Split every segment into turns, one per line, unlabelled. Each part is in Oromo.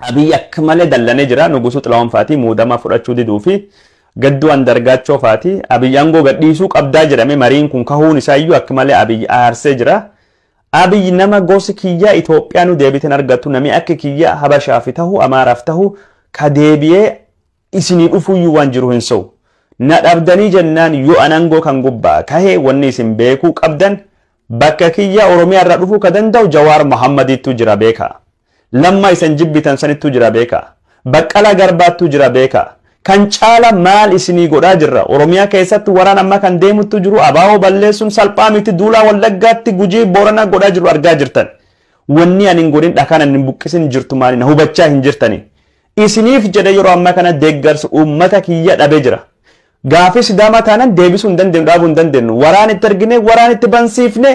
Abiy akka malee dallanee jira. Nugusuu Xilaawun faatii muudamaa fudhachuu diduu fi gadduu andargaachoo faatii Abiy aangoo gadhiisuu qabdaa jedhame mariin kun kahuun isaa iyyuu akka malee Abiy aarsee jira. Abiy nama gosi kiyyaa Itoophiyaa nu deebiten argattu nami akka kiyya Habashaaf tahu Amaaraaf tahu ka deebiyee isinii dhufuuyyuu waan jiru hin se'u. Na dhabdanii jennaan yoo an angoo kan gubbaa kahe wanni isin beekuu qabdan bakka kiyya Oromiyaa irraa dhufuu ka danda'u Jawaar Mohammadiittuu jira beekaa. Lammaa isan jibbitan sanittuu jira beekaa. Baqqalaa Garbaattuu jira beekaa. Kan caala maal isinii godhaa jirra? Oromiyaa keessatti waraan amma kan deemuttuu jiru abo balleessuun salphaa miti duulaa Wallaggaatti, Gujii, Booranaa godhaa jiru argaa jirtan. Wanni an hin godhin dhakaan an hin buqqisin jirtu maali na hubachaa hin jirtanii? Isiniif jedhee yeroo ammaa kana deeggarsa uummata kiyya dhabe jira. Gaafii Sidaamaa taanan deebisuu hin dandeenyu dhaabuu hin dandeenyu. Waraan itti ergine waraan itti bansiifne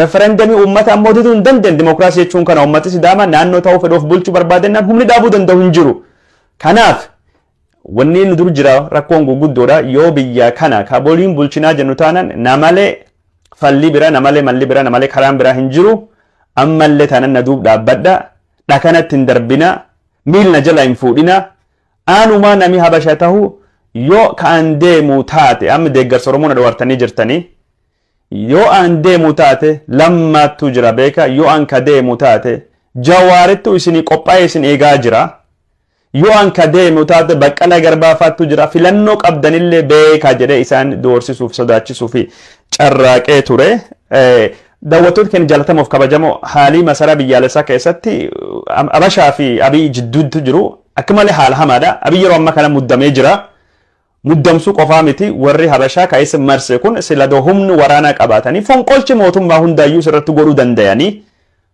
referendamii uummata ammoo diduu hin dandeenyu. Dimookiraasii jechuun kana uummati Sidaamaa naannoo ta'uu fedhu of bulchuu barbaadennaan humni dhaabuu danda'u hin jiru. Kanaaf wanni nu dur jira rakkoon guguddoodha yoo biyya kana kaboliin bulchinaa jennu taanan namalee fallii bira namalee malli bira namalee karaan biraa hin jiru ammallee taanan na duub dhaabbadha dhakanatti hin darbinaa Miil na jala hin fuudhinaa. Anumaa nami habasha tahu yo ka an deemu taate amma deeggarsa oromoo na dhowartanii jirtanii yo an deemu taate lammaattu jira beeka yo an ka deemu taate jawaarittu isinii qophaa'ee isin eegaa jira yo an ka deemu taate baqqalaa garbaa faattu jira filannoo qabdanillee beeka jedhee isaan doorsisuuf sodaachisuuf carraaqee ture Daawwattoota keenya jaalatamoo fi kabajamoo haalii masaraa biyyaalessaa keessatti Abashaa fi Abiy jidduutti jiru akka malee haala hamaadha. Abiy yeroo ammaa kana muddamee jira. Muddamsuu qofaa miti warri Habashaa kan isa marse kun sila doo humni waraanaa qabaatanii fonqolchi mootummaa hundaayyuu irratti godhuu dandayanii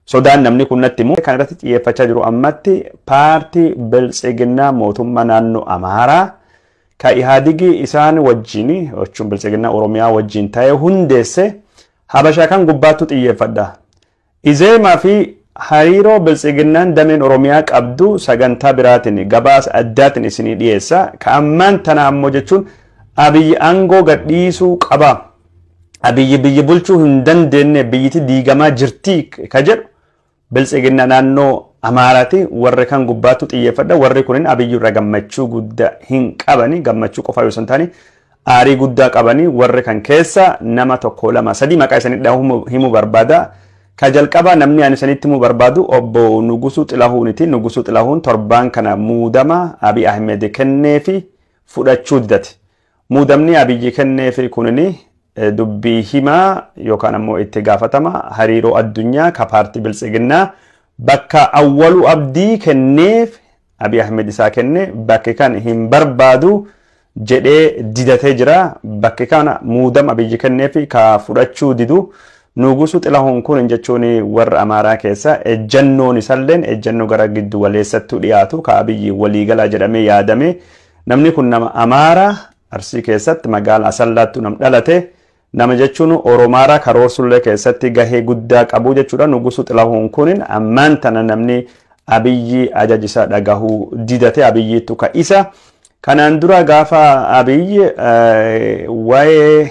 sodaan namni kun natti himu. Kan irratti xiyyeeffachaa jiru ammatti paartii biltsiginnaa mootummaa naannoo Amaaraa ka Ihaadigii isaan wajjin jechuun biltsiginnaa Oromiyaa wajjin ta'ee hundeesse Habasha kan gubbaattu xiyyeeffadha. Izeema fi hariiroo Biltsiginnaan dameen Oromiyaa qabdu sagantaa biraatin, gabaasa addaatin isinii dhiyeessa. Ka ammaan tanaa ammoo jechuun Abiyyi aangoo gad dhiisuu qaba, Abiyyi biyyi bulchuu hin dandeenne, biyyiti diigamaa jirti ka jedhu, Biltsiginna naannoo Amaaraati warri kan gubbaattu xiyyeeffadha warri kunin Abiyyi irra gammachuu gudda hin qabani gammachuu qofaa yoo san taane aarii guddaa qabani warri kan keessa nama tokko lama sadii maqaa isanii dhahu himu barbaada ka jalqabaa namni ani isanitti himu barbaadu obbo Nugusuu Xilahuuniti Nugusuu Xilahuun torbaan kana muudama Abiy Ahmed kenneefi fudhachuu didati Muudamni Abiyyi kenneef kunin dubbii himaa yookaan ammoo itti gaafatama hariiroo addunyaa ka paartii Biltsiginnaa bakka Awwaluu Abdii kenneef Abiy Ahmed isaa kenne bakki kan hin barbaadu jedhee didatee jira. Bakki kana muudama Abiyyi kenneef ka fudhachuu didu Nuugusuu Xilahuun kunin jechuun warra Amaaraa keessa ejjannoon isalleen ejjannoo gara giddu galeessattuu dhiyaatu ka Abiyyi waliigalaa jedhamee yaadamee Namni kun nama Amaaraa Arsii keessatti magaala Asallaattu nam dhalate nama jechuun Oromaaraa karoorsullee keessatti gahee guddaa qabu jechuudha. Nugusu Xilahuun kunin ammaan tana namni Abiyyi ajajisa dhagahuu didate Abiyyiittu ka isa. Kanaan dura gaafa Abiyyi waa'ee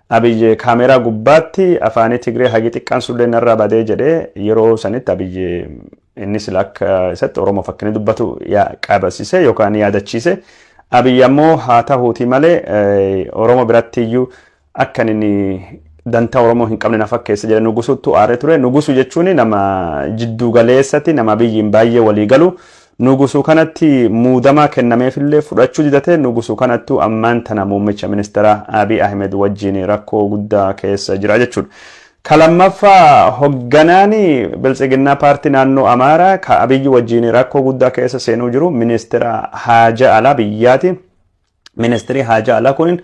Abiy kaameeraa gubbaatti afaanii Tigree hagi xiqqaan sullee narraa badee jedhe yeroo sanitti Abiy inni sila akka isatti Oromoof akka inni dubbatu yaa- qabasise yookaan yaadachiise. Abiy ammoo haa tahuutii malee eh, Oromoo biratti iyyuu akka inni dantaa Oromoo hin qabne na fakkeessa jedhe Nugusuttu aaree ture. Nugusu jechuun nama jidduu galeessatti nama Abiyyiin baay'ee walii galu Nugusu kanatti muudamaa kennameefillee fudhachuu didate Nugusu kanattu ammaan tana muummicha ministeeraa Abiy Ahimed wajjiin rakkoo guddaa keessa jira jechuudha. Ka lammaffaa hogganaani Biltsiginnaa paartii naannoo Amaaraa ka Abiy wajjiin rakkoo guddaa keessa seenuu jiru ministeera haajaa alaa biyyaati. Ministeerii haajaa alaa kunin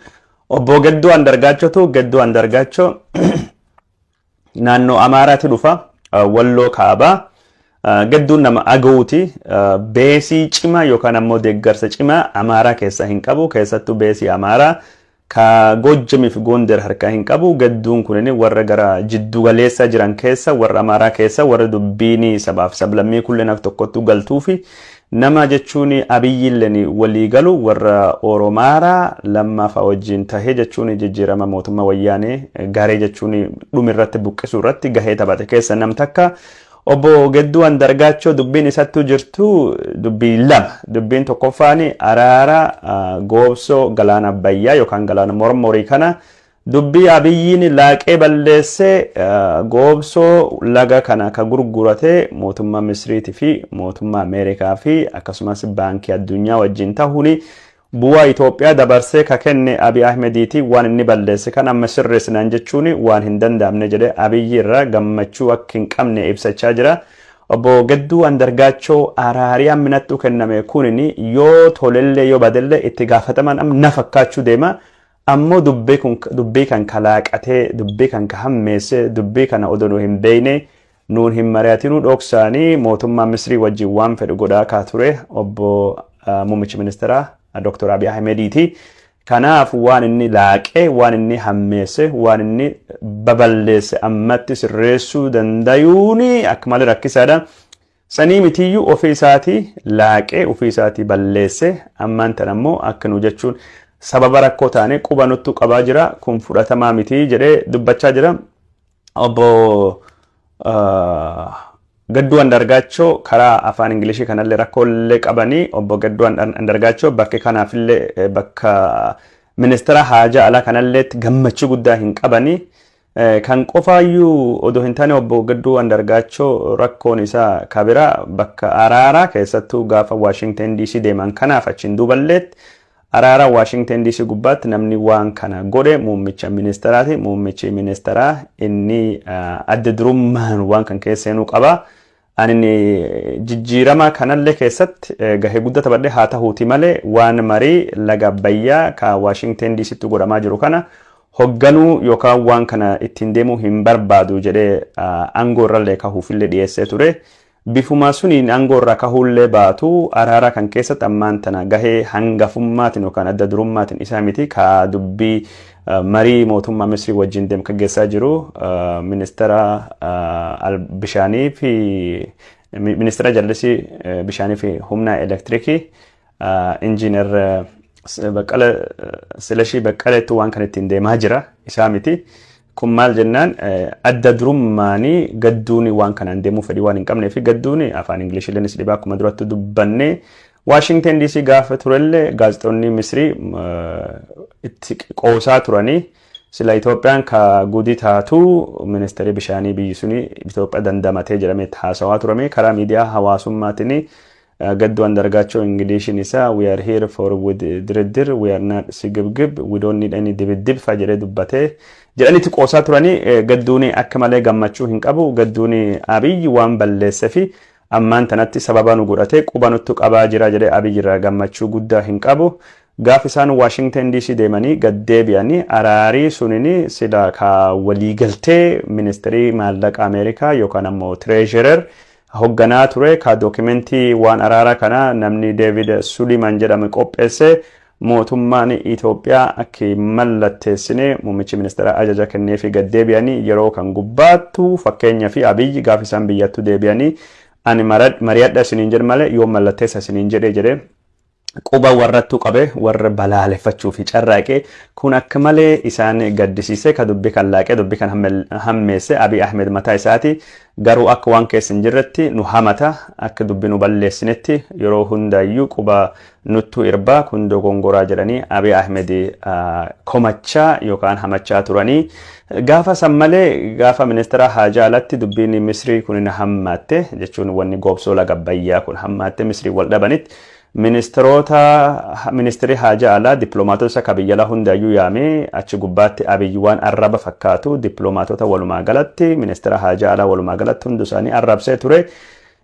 obbo Gedduu Andargaachotu Gedduu Andargaachoo naannoo Amaaraati dhufa walloo kaabaa gadduun nama agawuti beesii cimaa yookaan ammoo deeggarsa cimaa Amaaraa keessaa hin qabu keessattuu beesii Amaaraa ka Goojjamii fi Goonder harkaa hin qabu gadduun kunin warra gara jiddu galeessaa jiran keessa warra Amaaraa keessa warra dubbiin sabaaf sablammii kulleen akka tokkottuu galtuu fi Nama jechuun Abiyyillen walii galu warra Oromaara Lammaa fa'a wajjiin tahe jechuun jijjiirama mootumma Wayyaanee garee jechuun dhum irratti buqqisuu irratti gahee taphate keessa nam takka. Obbo Gedduu Andargaachoo dubbiin isattu jirtu dubbii lama. Dubbiin tokkoffaan araara Goobsoo Galaana Abbayyaa yookaan Galaana Mormorii kana Dubbii Abiyyiin laaqee balleesse goobsoo laga kana ka gurgurate mootummaa Misriiti fi mootummaa Ameerikaa fi akkasumas Baankii Addunyaa wajjin tahuun bu'aa Itoophiyaa dabarsee ka kenne Abiy Ahmediiti waan inni balleesse kan amma sirreessinaan jechuun waan hin danda'amne jedhe Abiyyi irraa gammachuu akka hin qabne ibsachaa jira. Obbo Gedduu Andargaachoo araari ammi nattu kenname kunin yoo tolellee yoo badellee itti gaafatamaan amma na fakkaachuu deema Ammoo dubbii kun dubbii kan kalaaqatee dubbii kan ka hammeesse dubbii kana odoo nu hin beeyne nuun hin mari'atinuu dhoksaanii mootummaa Misrii wajjin waan fedhu godhaa kaa ture obbo muummichi ministeeraa Dr. Abiy Ahimediiti. Kanaaf waan inni laaqe, waan inni hammeesse, waan inni baballeesse ammatti sirreessuu dandayuun akka malee rakkisaadha. Sanii mitiyyuu ofii isaatii laaqee ofii isaatii balleesse ammaan tan ammoo akka nu jechuun sababa rakkoo taane quba nuttu qabaa jira kun fudhatamaa mitii jedhee dubbachaa jira. Obbo Gadduu Andargaachoo karaa afaan Ingilishii kanallee rakkoollee qabanii obbo Gadduu Andargaachoo bakki kanaafillee bakka ministeera haajaa alaa kanalleetti gammachuu guddaa hin qabanii Kan qofaayyuu odoo hin taane Obbo Gadduu Andargaachoo rakkoon isaa ka biraa bakka araaraa keessattuu gaafa Washington DC deeman kanaaf achiin duuballeetti araara Washington DC gubbaatti namni waan kana godhe muummicha ministeraati. Muummichi ministeraa inni adda durummaan waan kan keessa seenuu qaba. Ani jijjiirama kanallee keessatti gahee guddaa taphadhe haa tahuuti malee waan marii laga Abbayyaa ka Waashingteen DC'tti godhamaa jiru kana hogganuu yookaan waan kana ittiin deemuu hin barbaadu jedhee aangoo irrallee kahuufillee dhiyeessee ture. Bifuma suniin aangoo irraa kahuullee baatu araaraa kan keessatti ammaan tana gahee hangafummaatiin yookaan adda durummaatiin isaa miti ka dubbii Marii mootummaa Misrii wajjin demkaggeessaa jiru ministeera bishaanii fi ministeera jallisii bishaanii fi humna elektirikii injiinar Baqqala Silashii Baqqaleetti waan kan ittiin deemaa jira isaa miti. Kun maal jennaan adda durummaanii gadduuni waan kanaan deemuu fedhii waan hin qabnee fi gadduuni afaan Ingilishillee ni dhibaa akkuma duratti dubbannee Waashingten DC gaafa turellee gaazexoonni Misrii itti qoosaa turanii sila Itoophiyaan ka gudi taatu ministeerii bishaanii biyyi suni Itoophiyaa dandamatee jedhamee itti haasawaa turame karaa miidiyaa hawaasummaatiin gaddu andargaachoo Ingiliishiin isaa we are here for with diriddir we are not sigibgib we don't need any dibiddib fa jedhee dubbatee jedhanii itti qoosaa turanii gadduuni akka malee gammachuu hin qabu gadduuni Abiyyi waan balleessefi Ammaan tanatti sababa nu godhatee quba nuttu qabaa jira jedhee Abiy irraa gammachuu guddaa hin qabu. Gaaf isaan Washington DC deemanii gad deebi'ani araarii sunini silaa kaa walii galtee ministrii maallaqa America yookaan ammoo treasurer hogganaa ture kaa documentii waan araara kana namni David Suliman jedhame qopheesse Mootummaan Itoophiyaa akka hin mallatteessine muummichi ministeeraa ajaja kenneefii gad deebi'anii yeroo kan gubbaattu fakkeenyafi Abiy gaafa isaan biyyattuu deebi'anii ani mari'adha isiniin jedhe malee yoom mallatteessa isiniin jedhe jedhe quba warrattuu qabe warra balaaleffachuu fi carraaqee kun akka malee isaan gaddisiisee ka dubbi kan laaqee dubbi kan hammeesse Abiy Ahmed mataa isaati garuu akka waan keessa hin jirretti nu hamata akka dubbi nu balleessinetti yeroo hundaayyuu quba Nuttu irbaa kun dogongoraa jedhanii Abiy Ahmed komachaa yookaan hamachaa turanii. Gaafa san malee gaafa ministeera haajaa alatti dubbiin Misrii kun hammaatte jechuun wanni goobsoo laga bayyaa kun hammaatte Misrii wal dhabanitti ministeerota ministeerri haajaa alaa dippiloomaatota isa ka biyyalaa hundaayyuu yaamee achi gubbaatti Abiy waan arraba fakkaatu dippiloomaatota walumaa galatti ministeera haajaa alaa walumaa galatti hundu isaanii arrabsee ture.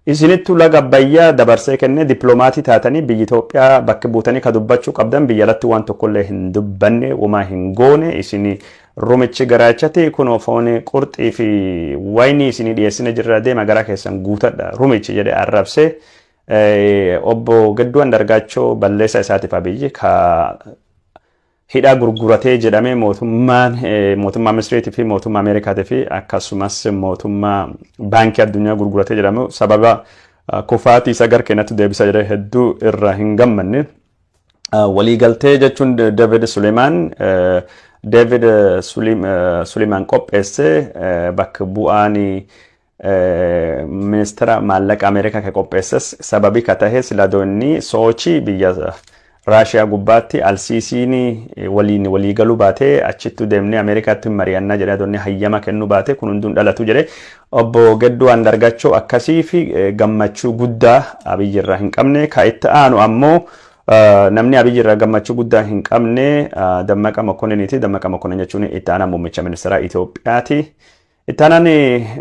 Isinittu laga Abbayyaa dabarsee kenne diplomaatii taatanii biyyi Itoophiyaa bakka buutanii ka dubbachuu qabdan biyya alatti waan tokkollee hin dubbanne womaa hin goone isin rumichi garaachati kunoo foon qurxii fi waynii isinii dhiyeessine jirra deema garaa keessan guutadha rumichi jedhe arrabsee obbo Gadduu Andargaachoo balleessaa isaatiif abiyyi ka hidhaa gurguratee jedhamee mootummaan mootummaa Misriitii fi mootummaa Ameerikaatii fi akkasumas mootummaa baankii addunyaa gurguratee jedhamu sababa kufaatii isa gara keenyatti deebisa jedhee hedduu irra hin gammanne. Waliigaltee jechuun David Suleemaan David Suleemaan qopheesse bakka bu'aan Ministira maallaqa Ameerikaa ka qopheesses sababii ka tahe siladoo inni Soochii biyya Raashiyaa gubbaatti Alsiisiin waliin walii galuu baatee achittu deemnee Ameerikaatti hin mari'annaa jedhee adoonni hayyama kennuu baatee kun hunduun dhalatu jedhee obbo Gedduu Andargachoo akkasii fi gammachuu guddaa Abiyyi irraa hin qabne ka itti aanu ammoo namni Abiyyi irraa gammachuu guddaa hin qabne Dammaqa Mokoniniiti. Dammaqa Mokonin jechuun itti aanaa muummicha ministeeraa Itoophiyaati. Itti aanaan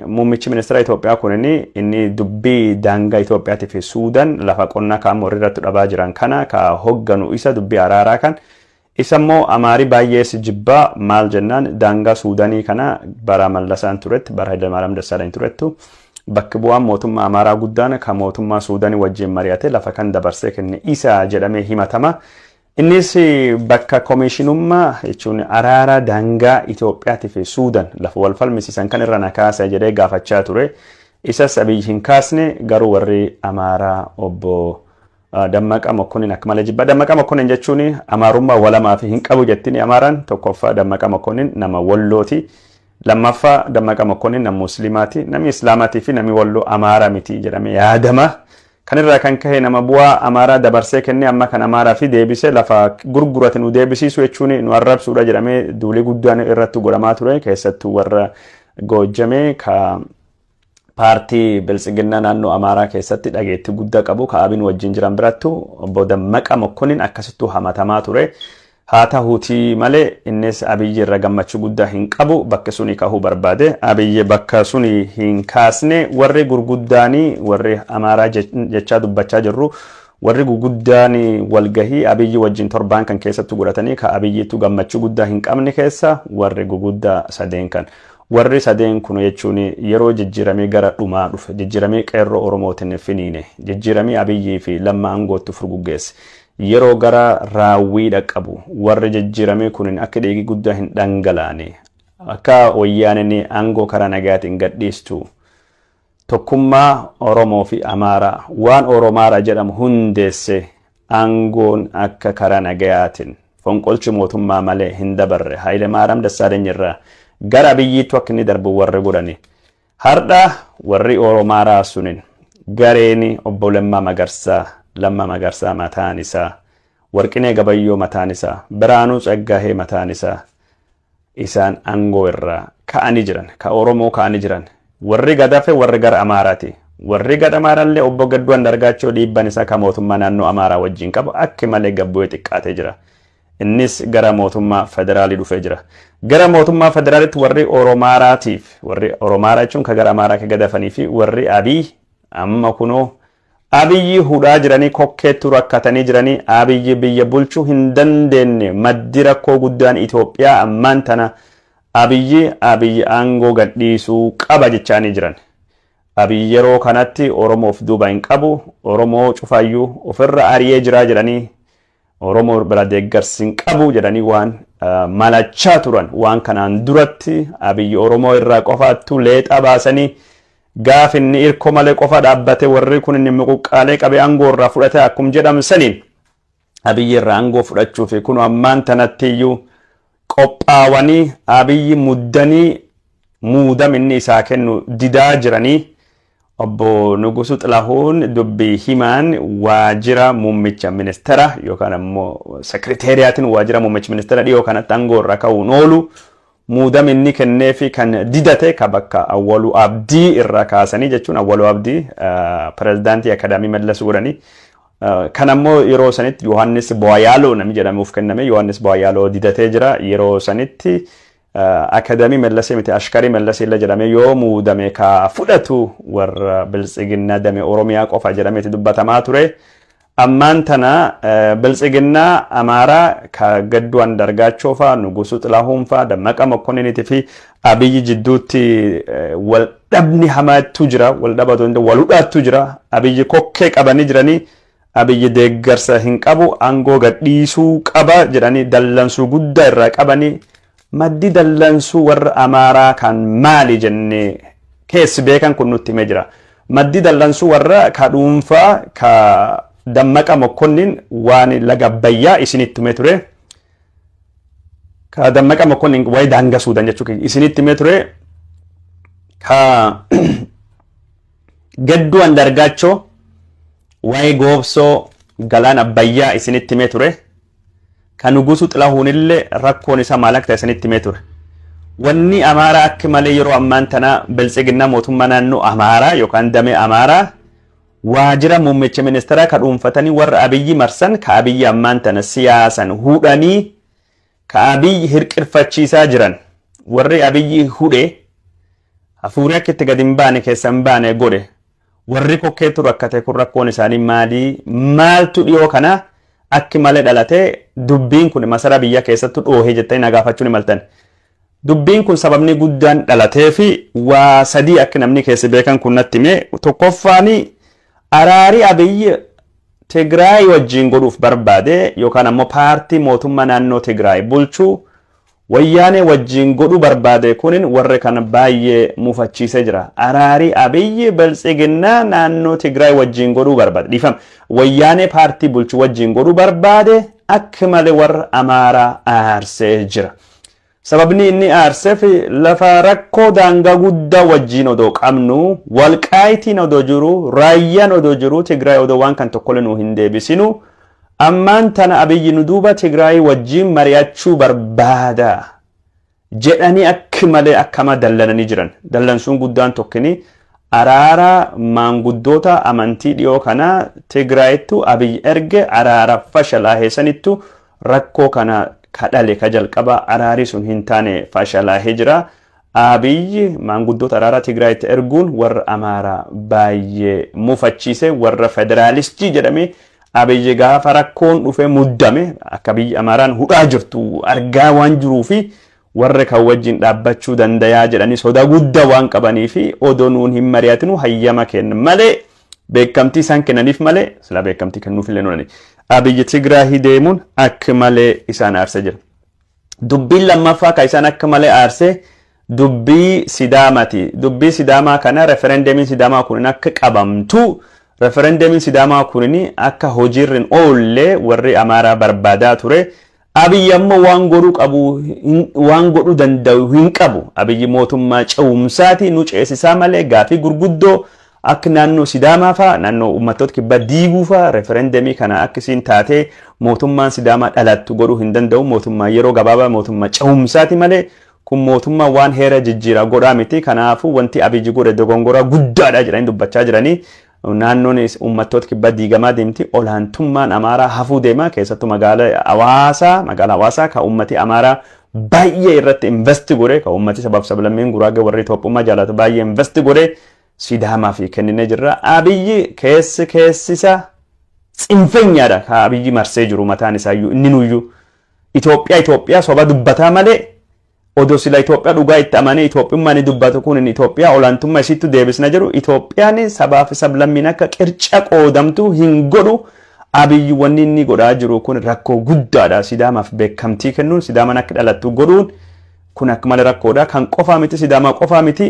muummichi ministeera Itoophiyaa kun inni dubbii daangaa Itoophiyaatii fi Suudan lafa qonnaa kaan morrii irratti dhabaa jiran kana ka hogganu isa dubbii araaraa kan isa immoo amaarii baay'ees jibbaa maal jennaan daangaa Suudanii kana bara Mallasaan turetti bara Hayilamaariyaam Dassaalany turettu bakki bu'aan mootummaa Amaaraa guddaan kan mootummaa Suudanii wajjin mari'ate lafa kan dabarsee kenne isa jedhamee himatama. Innis bakka komiishinummaa jechuun araara daangaa Itoophiyaatii fi Suudan lafa wal falmisiisan kan irra na kaasa jedhee gaafachaa ture. Isas Abiy hin kaasne garuu warri Amaaraa obbo Dammaqaa Mokkonin akka malee jibba. Dammaqaa Mokkonin jechuun Amaarummaa walamaa fi hin qabu jettini Amaaraan tokkoffaa Dammaqaa Mokkonin nama Wallooti. Lammaffaa Dammaqaa Mokkonin nama Musliimaati. Namni Islaamaatii fi namni Walloo Amaara miti jedhamee yaadama. Kan irraa kan kahe nama bu'aa Amaaraa dabarsee kennee amma kan Amaaraafi deebisee lafa gurgurate nu deebisiisuu jechuun nu arrabsuudha jedhamee duulii guddaan irratti godhamaa ture keessattuu warra Goojjamee ka paartii biltsiginnaa naannoo Amaaraa keessatti dhageettii guddaa qabu ka Abin wajjin jiran birattu obbo Dammaqa Mokkonin akkasittuu hamatamaa ture. Haa tahuutii malee innis Abiyyi irra gammachuu guddaa hin qabu bakka suni kahuu barbaade. Abiyyi bakka suni hin kaasne warri gurguddaani warri Amaaraa jechaa dubbachaa jirru warri guguddaani walgahii Abiyyi wajjin torbaan kan keessattu godhatanii ka Abiyyiittu gammachuu guddaa hin qabne keessa warri guguddaa sadeen kan. Warri sadeen kun jechuun yeroo jijjiiramii gara dhumaa dhufe jijjiiramii qeerroo Oromootin finiine jijjiiramii Abiyyii fi Lamma angoottu furguggeesse Yeroo gara raawwii dhaqqabu warri jijjiiramee kunin akka dhiigi guddaa hin dhangalaane, akka Wayyaaneen aangoo karaa nagaatiin gadhiistu, tokkummaa Oromoo fi Amaaraa waan Oromaaraa jedhamu hundeessee aangoon akka karaa nagayaatiin fonqolchi mootummaa malee hin dabarre Haayilemaaraam Dassaaleny irraa gara Abiyyiittu akka inni darbu warri godhani Hardha warri Oromaa raasunin gareeni Obbo Lemmaa Magarsaa, Lamma Magarsaa mataan isaa, Warqinee Gabayyoo mataan isaa, Biraanuu Tsaggaahee mataan isaa isaan angoo irraa ka'ani jiran, ka Oromoo ka'ani jiran. Warri gad hafe warri gara Amaarati. Warri gad Amaarallee Obbo Gadduu Andargaachoo dhiibban isaa ka mootummaa naannoo Amaaraa wajjin qabu akki malee gad bu'ee xiqqaatee jira. Innis gara mootummaa federaalii dhufee jira. Gara mootummaa federaalitti warri Oromaaraatiif warri Oromaaraa jechuun ka gara Amaaraa ka gadafanii fi warri Abiy amma kunoo Abiyyi hudhaa jiranii kokkeetti rakkatanii jiranii Abiyyi biyya bulchuu hin dandeenye maddi rakkoo guddaan Itoophiyaa ammaan tana Abiyyi Abiyyi aangoo gadhiisuu qaba jechaanii jiran. Abiyyi yeroo kanatti Oromoof duuba hin qabu Oromoo cufaayyuu ofirra ari'ee jiraa jedhanii Oromoo biraa deeggarsi hin qabu jedhanii waan malachaa turan waan kanaan duratti abiyyi Oromoo irraa qofaattuu leexaa baasanii gaaf inni irko malee qofa dhaabbate warri kun inni muquqqaalee qabee aangoo irraa fudhate akkum jedhamu saniin abiyyi irraa aangoo fudhachuu fi kun ammaan tanatti iyyuu qophaawanii abiyyi muddanii muudam inni isaa kennu didaa jiranii Obbo Nugusuu Xilahuun dubbi himaan waajjira muummicha ministeera yookaan ammoo sekreteeriyaatiin waajjira muummichi ministeera dhiyoo kanatti aangoo irraa ka'uun oolu muudami inni kenneefi kan didate ka bakka Awwaluu Abdii irraa kaasanii jechuun Awwaluu Abdii pirezidaantii Akadaamii Mallas godhanii kan ammoo yeroo sanitti Yohaannis Booyaaloo namni jedhamuuf kenname Yohaannis Booyaaloo didatee jira yeroo sanitti Akadamii Mellasee miti Ashkarii Mellasee illa jedhamee yoo muudame ka fudhatu warra Biltsiginnaa dame Oromiyaa qofa jedhameeti dubbatamaa ture. Ammaan tana Biltsiginnaa Amaaraa ka Gadduu Andargaachoo faa, Nugusuu Xilaahuun faa, Dammaqa Mokkoniniitii fi Abiyyi jidduutti wal dhabni hamaattu jira. Wal dhabaatu hin ta'u wal hudhaattu jira. Abiyyi kokkee qabanii jiranii Abiy deeggarsa hin qabu angoo gad dhiisuu qaba jedhanii dallansuu guddaa irraa qabani maddi dallansuu warra Amaaraa kan maali jennee keessi beekan kun nutti himee jira. Maddi dallansuu warra ka dhuunfaa ka Dammaqa Mokkonnin waan laga Abbayyaa isinitti himee ture. Ka Dammaqa Mokkonnin waa'ee daangaa Suudan jechuu isinitti himee ture. Ka Gadduu Andaargaachoo waa'ee goobsoo galaan abbayyaa isinitti himee ture. Kan Nugusuu Xilahuunillee rakkoon isaa maal akka ta'e isinitti himee ture. Wanni Amaaraa akka malee yeroo ammaan tana biltsiginnaa mootummaa naannoo Amaaraa yookaan damee Amaaraa waajira muummicha ministeeraa ka dhuunfatanii warra Abiyyi marsan ka Abiyyi ammaan tana siyaasan hudhanii Ka Abiy hirqirfachiisaa jiran warri Abiy hudhe hafuurri akka itti gad hin baane keessa hin baane godhe warri kokkeetu rakkate kun rakkoon isaanii maalii maaltu dhiyoo kana akki malee dhalate dubbiin kun masaraa biyya keessattu dhoohee jettanii nagaafachuu ni maltan. Dubbiin kun sababni guddaan dhalatee fi waa sadii akka namni keessa beekan kun natti hime tokkoffaan Araari Abiy Tigraay wajjin godhuuf barbaade yookaan ammoo paartii mootummaa naannoo Tigraay bulchu Wayyaanee wajjin godhuu barbaade kunin warri kan baayyee mufachiisee jira. Araari Abiy Biltsiginnaa naannoo Tigraay wajjin godhuu barbaade dhiifama Wayyaanee paartii bulchu wajjin godhuu barbaade akka malee warra Amaaraa aarsee jira. Sababni inni aarsef lafa rakkoo daangaa guddaa wajjiin odoo qabnuu, Walqaayitiin odoo jiruu, Raayyaan odoo jiruu, Tigraay odoo waan kan tokkole nuu hin deebisinu, ammaan tana Abiyyi nu duuba Tigraayii wajjiin mari'achuu barbaada jedhanii akki malee akka hamaa dallananii jiran. Dallansuun guddaan tokkini araara maanguddoota amantii dhiyoo kanaa Tigraayittu Abiyyi erge araara fashalaahe sanittu Rakkoo kana ka dhale ka jalqabaa araarii sun hin taane fashalaahee jira. Abiy maanguddoota araaraa Tigraayitti erguun warra Amaaraa baayyee mufachiise. Warra federaalistii jedhamee Abiy gaafa rakkoon dhufee muddame akka biyyi Amaaraan hudhaa jirtu argaa waan jiruu fi warra kan wajjin dhaabbachuu dandayaa jedhanii soda gudda waan qabanii fi odoo nuun hin mari'atinu hayyama kenna malee beekamtii isaan kennaniif malee silaa beekamtii kennuuf illee nolani. Abiyyi Tigraahii deemuun akka malee isaan aarsa jira. Dubbiin lammaffaa kan isaan akka malee aarsee dubbii Sidaamati. Dubbii Sidaamaa kana referendemiin Sidaamaa kun akka qabamtu referendemiin Sidaamaa kun akka hojiirra hin oolle warri Amaaraa barbaadaa ture. Abiy amma waan godhu qabu waan godhu danda'u hin qabu. Abiy mootummaa ce'umsaati nu ceesisaa malee gaafii gurguddoo akka naannoo Sidaamaa faa naannoo uummattoota kibbaa diiguu faa referendemii kana akka isiin taatee mootummaan Sidaamaa dhalattu godhuu hin danda'u. Mootummaa yeroo gabaabaa mootummaa ce'umsaati malee kun mootummaa waan heera jijjiiraa godhaa miti. Kanaafuu wanti Abiy godhe dogongoraa guddaadha jedhanii dubbachaa jiranii Naannoon uummattoota kibbaa diigamaa deemti. Olaantummaan Amaaraa hafuu deema. Keessattuu magaala Hawaasaa, magaala Hawaasaa kan uummati Amaaraa baay'ee irratti invest godhe, kan uummati sabaaf sablammiin Guraagee warri Itoophummaa jaalatu baay'ee invest godhe Sidaamaaf kenninee jirra. Abiyyi keessi keessisa tsinfenyaadha kan Abiyyi marsee jiru mataan isaayyuu inni nuyyuu. Itoophiyaa Itoophiyaa soba dubbataa malee Odoo sila Itoophiyaa dhugaa itti amanee Itoophiyummaa inni dubbatu kun Itoophiyaa olaantummaa isiittu deebisna jedhu Itoophiyaan sabaa fi sablammiin akka qirca qoodamtu hin godhu Abiyyi wanni inni godhaa jiru kun rakkoo guddaadha Sidaamaaf beekamtii kennuun Sidaamaan akka dhalattu godhuun kun akka malee rakkoodha kan qofaa miti Sidaamaa qofaa miti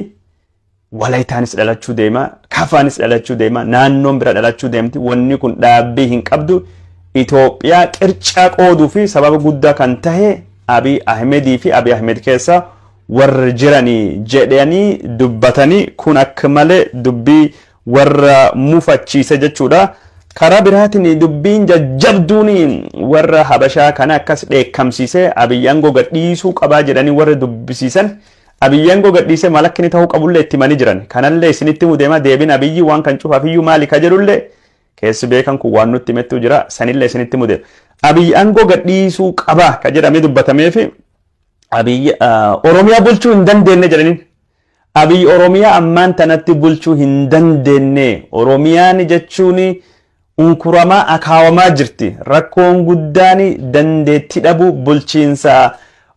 Walaytaanis dhalachuu deema, Kafaanis dhalachuu deema, naannoon bira dhalachuu deemti. Wanni kun dhaabbii hin qabdu. Itoophiyaa qircaa qooduu fi sababa guddaa kan tahe Abiy Ahmedii fi Abiy Ahmed keessa warri jiranii jedhanii dubbatanii kun akka malee dubbii warra mufachiise jechuudha. Karaa biraatiin dubbiin jajjabduun warra Habashaa kana akkas dheekkamsiise Abiyyi aangoo gadhiisuu qabaa jedhanii warra dubbisiisan Abiyyi aangoo gadhiisee maal akka inni ta'uu qabullee itti himanii jiran. Kanallee isinitti himuu deema deebiin Abiyyi waan kan cufaafiyyuu maali ka jedhullee keessi beekan kun waan nutti himettuu jira sanillee isinitti himuu deema. Abiyyi aangoo gadhiisuu qabaa ka jedhamee dubbatameefi Abiyyi Oromiyaa bulchuu hin dandeenye jedhaniin. Abiy Oromiyaa ammaan tanatti bulchuu hin dandeenne. Oromiyaan jechuun unkuramaa akaawamaa jirti. Rakkoon guddaan dandeettii dhabuu bulchiinsa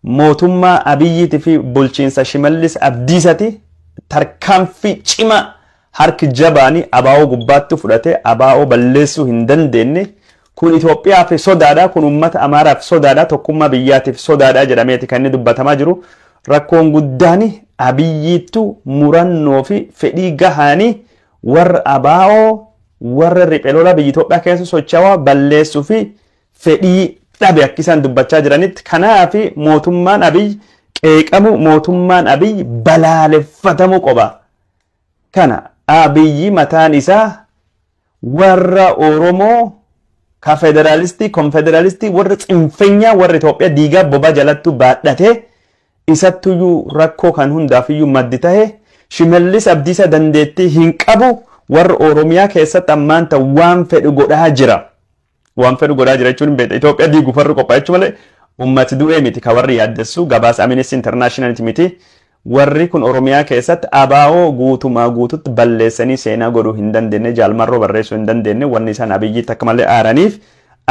mootummaa Abiyyiitii fi bulchiinsa Shimallis Abdiisati. Tarkaanfii cimaa harki jabaan ABO gubbaatti fudhate ABO balleessuu hin dandeenne. Kun Itoophiyaaf sodaadha, kun uummata Amaaraaf sodaadha, tokkummaa biyyaatiif sodaadha jedhameeti kan inni dubbatamaa jiru. Rakkoon guddaan Abiyyiittu murannoo fi fedhii gahaani warra ABO, warra riphe lola biyya Itoophiyaa keessa sochawaa balleessuu fi fedhii dhabe akka isaan dubbachaa jiranitti. Kanaaf mootummaan Abiy qeeqamuu, mootummaan Abiy balaaleffatamuu qoba. kana Abiyyi mataan isaa warra Oromoo ka federaalistii, konfederaalistii, warra tsinfenyaa, warra Itoophiyaa diigaa bobaa jalattuu baadhatee isattuyyuu rakkoo kan hundaafiyyuu maddi tahe Shimallis Abdiisaa dandeettii hin qabu warra Oromiyaa keessatti ammaan tan waan fedhu godhaa jira. Waan fedhu godhaa jira jechuun hin beekne. Itoophiyaa diiguuf warri qophaa'eechu malee uummati du'ee miti kan warri yaaddessu gabaasa Amnesty Internationaliti miti. Warri kun Oromiyaa keessatti abaa'oo guutumaa guututti balleessanii seenaa godhuu hin dandeenye jaalmarroo barreessuu hin dandeenye wanni isaan abiyyiitti akka malee aaraniif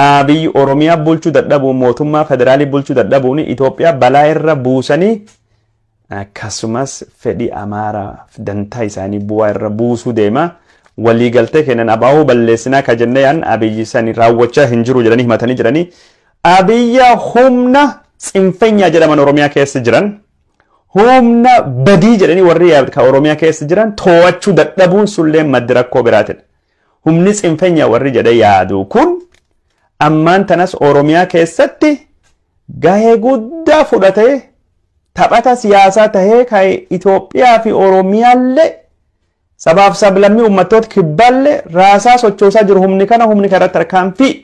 abiyyi Oromiyaa bulchuu dadhabuun mootummaa federaalii bulchuu dadhabuun Itoophiyaa balaa irra buusanii akkasumas fedhii Amaaraaf dantaa isaanii bu'aa irra buusuu deema. Waliigaltee keenyan ABO balleessinaa ka jennee yaadne Abiyyi sani raawwachaa hin jiru jedhanii himatanii jiranii. Abiyya humna tsinfenyaa jedhaman Oromiyaa keessa jiran humna badii jedhanii warri ka Oromiyaa keessa jiran too'achuu dadhabuun sullee maddi rakkoo biraatidha. Humni tsinfenya warri jedhee yaadu kun ammaan tanas Oromiyaa keessatti gahee guddaa fudhatee taphata siyaasaa tahee kan Itoophiyaa fi Oromiyaallee sabaaf sablammii uummattoota kibbaallee raasaa sochoosaa jiru humni kana humni kana irratti tarkaanfii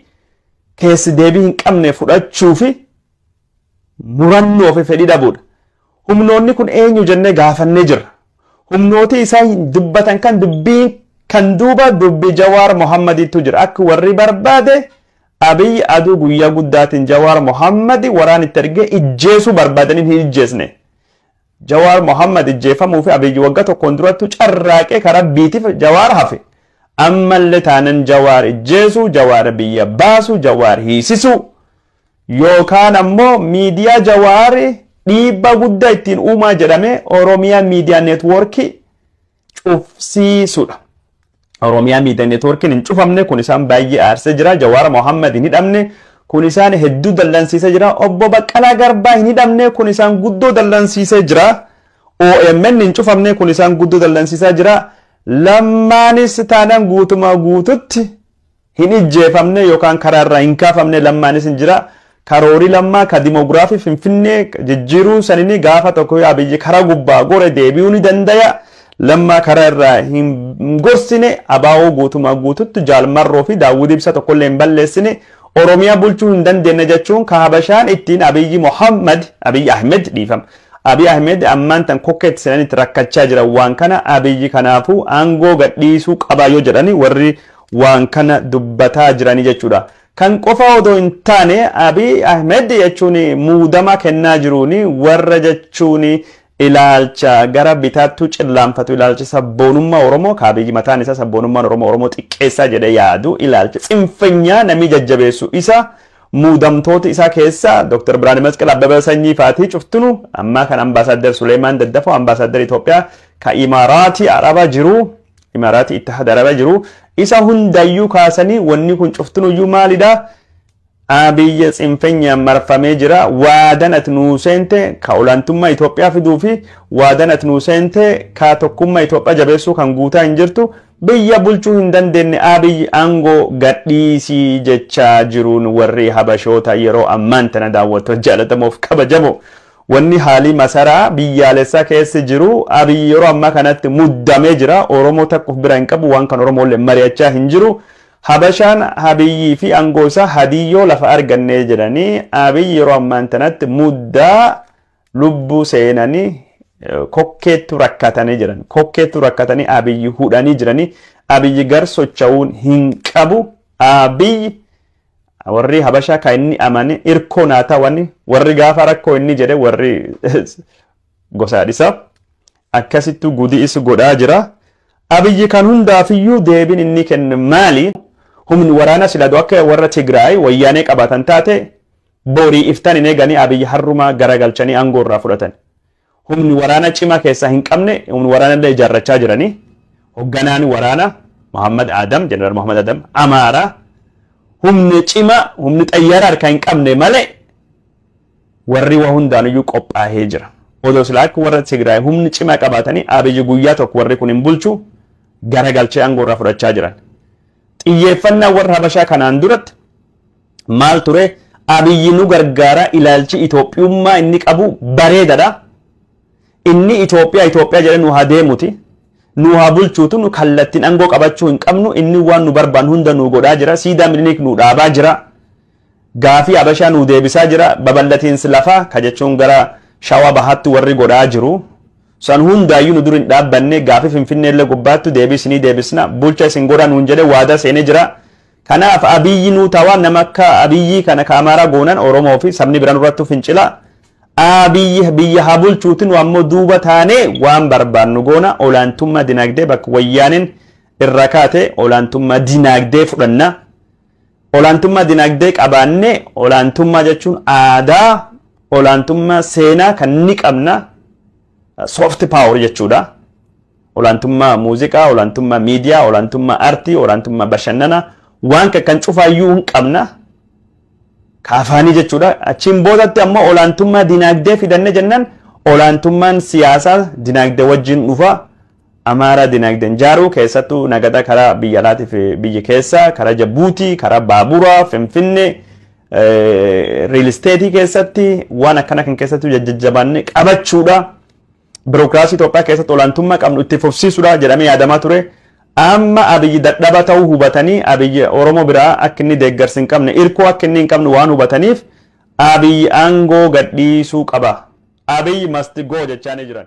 keessi deebii hin qabne fudhachuu fi murannoo fi fedhii dhabuudha. Humnoonni kun eenyu jennee gaafannee jirra. Humnooti isaan dubbatan kan dubbiin kan duuba dubbi Jawaar Mohammadiittu jira. Akka warri barbaade Abiy aduu guyyaa guddaatiin Jawaar Mohammadi waraan itti ergee ijjeesuu barbaadaniin hin ijjeesne. Jawaar Mohammad ijjeefamuu fi Abiy wagga tokkoon durattu carraaqee ka rabbiitiif Jawaar hafe. Ammallee taanan Jawaar ijjeesuu, Jawaar biyya baasuu, Jawaar hiisisuu. Yookaan ammoo miidiyaa Jawaar dhiibbaa guddaa ittiin uumaa jedhame Oromiyaa Miidiyaa Neetwoorkii cufsiisudha. Oromiyaa Miidiyaa Neetwoorkiin hin cufamne kun isaan baay'ee aarsee jira. Jawaar Mohaammed hin hidhamne kun isaan hedduu dallansiisee jira. Obbo Baqqalaa Garbaa hin hidhamne kun isaan guddoo dallansiisee jira. OMN hin cufamne kun isaan guddoo dallansiisaa jira. Lammaanis taanaan guutumaa guututti hin ijjeefamne yokaan karaa irraa hin kaafamne lammaanis hin jira. Karoori lammaa ka dimoogiraafii Finfinnee jijjiiruu sanini gaafa tokko yoo Abiyyi karaa gubbaa gore deebi'uu ni dandaya. Lammaa karaa irraa hin gorsine abaa'oo guutumaa guututti Jaal Marroo fi Daawwid Ibsa tokkollee hin balleessine Oromiyaa bulchuu hin dandeenye jechuun ka Habashaan ittiin Abiyyi Mohammad Abiyyi Ahmed dhiifama. Abiy Ahmed ammaan tan kokkeetti seenanitti rakkachaa jiran waan kana Abiyyi kanaafuu aangoo gadhiisuu qaba yoo jedhani warri waan kana dubbataa jirani jechuudha. Kan qofa odoo hin taane Abiy Ahimed jechuun muudama kennaa jiruun warra jechuun ilaalcha gara bitaattuu cillaanfatu ilaalcha sabboonummaa Oromoo ka Abiy mataan isaa sabboonummaan Oromoo Oromoo xiqqeessaa jedhee yaadu ilaalcha tsinfenyaa namii jajjabeessu isa muudamtoota isaa keessa Dr. Birhaane Masqal Abbabaa Sanyii faatii cuftinu ammaa kan Ambaasaadder Suleemaan Daddafoo Ambaasaadder Itoophiyaa ka Imaaraatii Araba jiru Imaaraatii itti hadarara jiru. Isa hundayyuu kaasanii wanni kun cuftinuyyuu maalidha? Abiyyi tsinfenyaan marfamee jira. Waadan ati nuu seente ka olaantummaa Itoophiyaa fiduu fi waadan ati nuu seente ka tokkummaa Itoophiyaa jabeessuu kan guutaa hin jirtu biyya bulchuu hin dandeenye Abiyyi aangoo gadhiisii jechaa jiruun warri Habashoota yeroo ammaan tana daawwattoota jaallatamoof kabajamoo Wanni haalii masaraa biyyaalessaa keessa jiru Abiy yeroo ammaa kanatti muddamee jira. Oromoo takka of bira hin qabu. Waan kan Oromoolleen mari'achaa hin jiru. Habashaan Abiyyii fi aangoo isaa hadiyyoo lafa argannee jedhanii Abiy yeroo ammaan tanatti muddaa lubbuu seenanii kokkeettu rakkatanii jiran. Kokkeettu rakkatanii Abiyyi hudhanii jiranii. Abiyyi gar socha'uun hin qabu. Abiyyi Warri Habashaa kan inni amane irkoo naa tawani warri gaafa rakkoo inni jedhe warri gosaa dhisa. Akkasittuu gudii is godhaa jira. Abiyyi kan hundaafiyyuu deebiin inni kenne maali? Humni waraanaa sila doo akka warra Tigraay wayyaanee qabaatan taate borii iftaan hin eeganii Abiyyi harrumaa garagalchanii aangoo irraa fudhatan. humni waraana cimaa keessaa hin qabne humni waraana illee ijaarrachaa jiranii hogganaan waraana Muhammad Adam Jeneraal Muhammad Adam Amaara humni cimaa humni xayyaara harkaa hin qabne malee warri waa hundaaniyyuu qophaa'ee jira. Odoo silaa akka warra Tigraay humni cimaa qabaatanii abiyyi guyyaa tokko warri kun hin bulchu garagalchee aangoo irraa fudhachaa jiran. Xiyyeeffannaa warra Habashaa kanaan duratti maal ture Abiyyi nu gargaara ilaalchi Itoophiyummaa inni qabu bareedadha. Inni Itoophiyaa Itoophiyaa jedhee nu haa deemuti. Nu haa bulchuutu nu kallattiin aangoo qabachuu hin qabnu inni waan nu barbaan hunda nu godhaa jira. Siidaa Miniliik nu dhaabaa jira. Gaafii Abashaa nu deebisaa jira. Babal'atiinsi lafaa ka jechuun gara shawaa bahaatti warri godhaa jiru. San hundaayyuu nu dur hin dhaabbanne gaafii Finfinneellee gubbaattu deebii isinii deebisna bulcha isin godhaa nuun jedhee waadaa seenee jira. Kanaaf Abiyyi nuu tawa nama akka Abiyyii kana ka Amaaraa goonan Oromoo fi sabni biran irrattu fincila Abiyyi biyya haa bulchuuti nu ammoo duuba taanee waan barbaannu goona olaantummaa dinaagdee bakka wayyaaneen irraa kaate olaantummaa dinaagdee fudhanna olaantummaa dinaagdee qabaannee olaantummaa jechuun aadaa olaantummaa seenaa kan ni qabna soft power jechuudha. Olaantummaa muuziqaa, olaantummaa miidiyaa, olaantummaa aartii, olaantummaa bashannanaa waan kan kan cufaayyuu hin qabna. Ka afaanii jechuudha. Achiin boodatti ammoo olaantummaa dinaagdee fidanne jennaan olaantummaan siyaasaa dinaagdee wajjin dhufa. Amaaraa dinaagdeen jaaruu keessattuu nagada karaa biyya alaatiif biyya keessaa karaa Jabuutii, karaa baaburaa, Finfinnee, riil isteetii keessatti waan akkana kan keessattuu jajjabaannee qabachuudha. birookiraasii Itoophiyaa keessatti olaantummaa qabnu itti fufsiisudha jedhamee yaadamaa ture. Amma Abiyyi dadhaba ta'uu hubatanii Abiyyi Oromoo biraa akka inni deeggarsi hin qabne irkoo akka inni hin qabne waan hubataniif Abiyyi aangoo gadhiisuu qaba. Abiyyi must go jechaanii jiran.